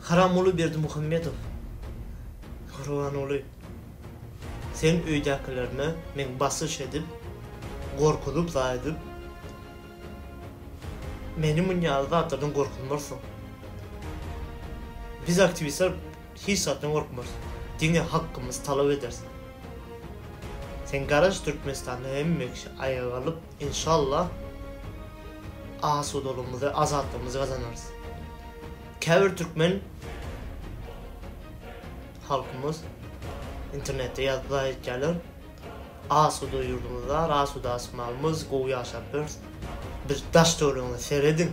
Haramguly Berdimuhamedow, Gurbanguly, seň öýdäkilerine meň basyş edip, gorkuzyp, zaýadyp, meni munýaly zatlardan gorkuzmarsyň. Biz aktiwistler hiç zatdan gorkmarys. Diňe hakymyzy talap ederis. Sen garaş Türkmenistanda hemme kişi aýaga galyp, Inşallah asudalygymyzy, azatlygymyzy gazanarys. Käbir türkmen halkymyz internetde ýazýar aýdýarlar. Asuda ýurdumyz bar, asuda asmanymyz, gowy ýaşap ýörüs. Bir daş töweregine serediň.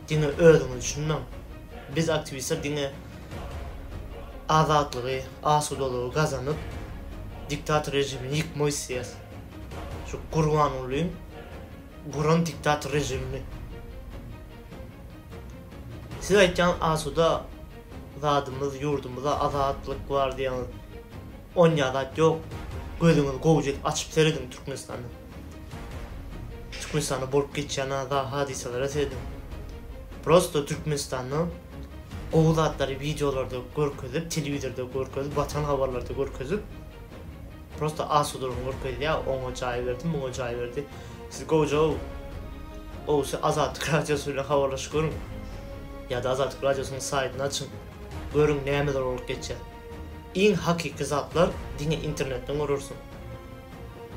Diňe özüňizi düşünmäň. Biz aktiwistler diňe azatlygy, asudalygy gazanyp, diktator režimini ýykmak isleýäris. Şu Gurbangulyň guran diktator režimini. Siz aýtýaňyz asuda zadymyz ýurdumyzda azatlyk bar diýýäňiz. Onýa zat ýok. Gözüňizi gowja edip açyp serediň Türkmenistana. Türkmenistanda bolup geçýän a-za hadysalara serediň. Prosto Türkmenistanda gowy zatlary wideolarda görkezip, telewizorda görkezip, watan habarlarda görkezip, Prosta asudalygyny görkezýä oňa jaý berdi muňa jaý berdi siz gojaw owşy azatlyk radiosy bilen habarlaşyp görüň ýada azatlyk radiosynyň saýtyny açyň görüň nämeler bolup geçýär iň hakyky zatlar diňe internetden görersiň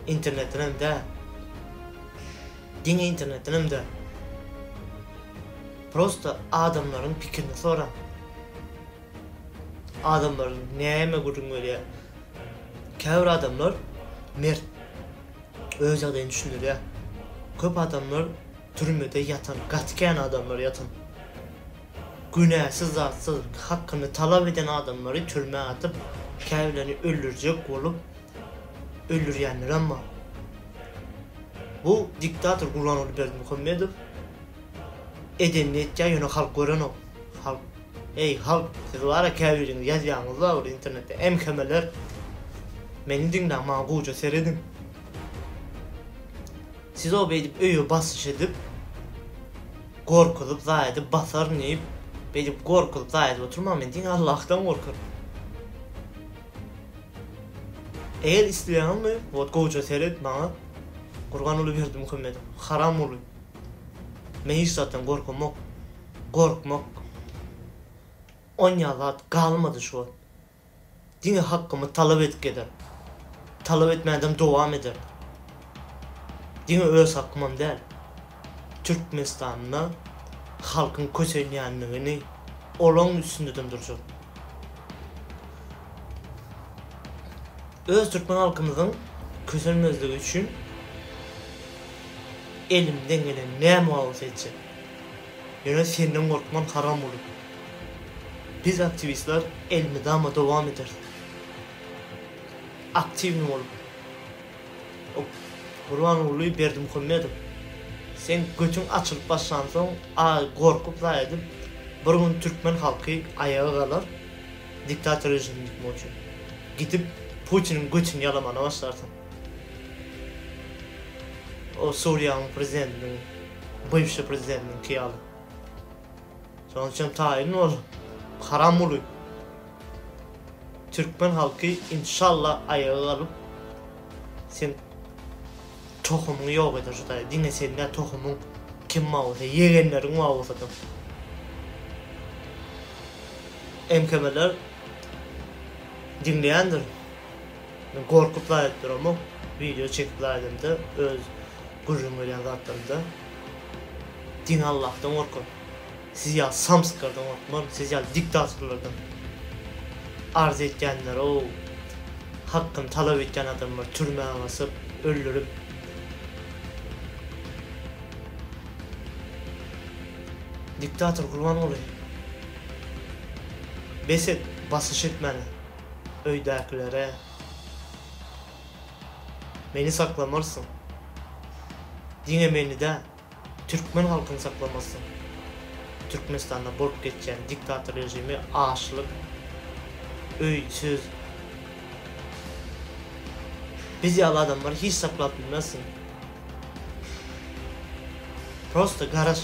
internetden hem dä diňe internetden hem dä prosta adamlaryň pikirini soraň. Adamlar näme gürrüň berýär? Käbir adamlar mert, öz ýagdaýyny düşündirýär. Köp adamlar türmede ýatan, gaty kän adamlar ýatan. Günäsiz zatsyz, hakyny talap eden adamlary türmä atyp, käbirlerini öldürjek bolup, öldürýänlerem bar. Bu diktator Gurbanguly Berdimuhamedow edenini etýär, ýöne halk görenok. Halk. Eý halk siz bara käbiriňiz ýazýaňyz la ol internetde MHMler meni diňläň maňa gowja serediň siz o beýdip öýe basyş edip gorkuzyp zaýa edip basaryn diýip beýdip gorkuzyp zaýa edip oturmaň men diňe Allahdan gorkaryn eger isleýäňizmi wot gowja seret maňa Gurbanguly Berdimuhamedow haram uly men hiç zatdan gorkamok. gorkmak onýa zat galmady şu wagt. Diňe hakkymy talap edip gezer. Talap etmändem dowam eder. Diňe öz hakkymam däl. Türkmenistanda halkyň kösenýändigini olaň üstündedem durjak. Öz türkmen halkymyzyň kösenmezligi üçin elimden gelen näme bolsa etjek. Ýöne senden gorkman haram bolup. Biz aktiwistler elmydama dowam ederis. Aktiwnyý bolup. Op. Gurbanguly Berdimuhamedow seň götüň açylyp başlansoň a gorkup zaý edip bir gün türkmen halky aýaga galar diktator režimini ýykmak üçin. Gidip Putiniň götüni ýalamana başlarsyň. O Suriýanyň prezidentiniň. Bywşy prezidentiňki ýaly. Şonuň üçin hem taýyn ol haram uly. Türkmen halky inşallah aýaga galyp sen tohumyňy ýok eder hudaý. Diňe sen däl tohumyň kim bar bolsa ýegenleriň bar bolsa-da. MKM-ler diňleýändir. Men gorkup laýyk duramok wideo çekip laýdymda öz gürrüň berýän zatlarymda diňe Allahdan gorkun siz ýaly samsyklardan gorkmaryn siz ýaly diktatorlardan arz etýänlerow hakkyny talap etýän adamlar türmä basyp öldürip diktator Gurbanguly bes et basyş etmäne öýdäkilere, Meni saklamarsyň. Diňe meni däl, türkmen halkyny saklamarsyň. Türkmenistanda bolup geçýän diktator režimi açlyk, öýsüz, Biz ýaly adamlary hiç saklap bilmersiň. Prosta garaş.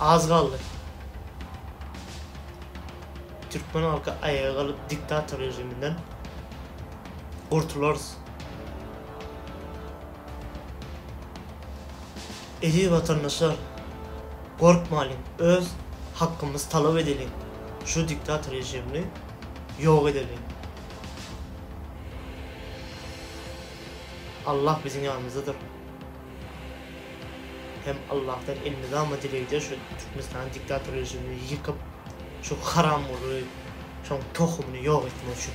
Az galdy. Türkmen halky aýaga galyp diktator rejiminden gurtularys. Eziz watandaşlar gorkmalyň öz hakkymyzy talap edeliň şu diktator rejimini ýok edeliň. Allah biziň ýanymyzdadyr. Hem Allahdan elmydama dileg eder şu Türkmenistanyň diktator režimini ýykyp şu haramguly şoň tohumyny ýok etmek üçin.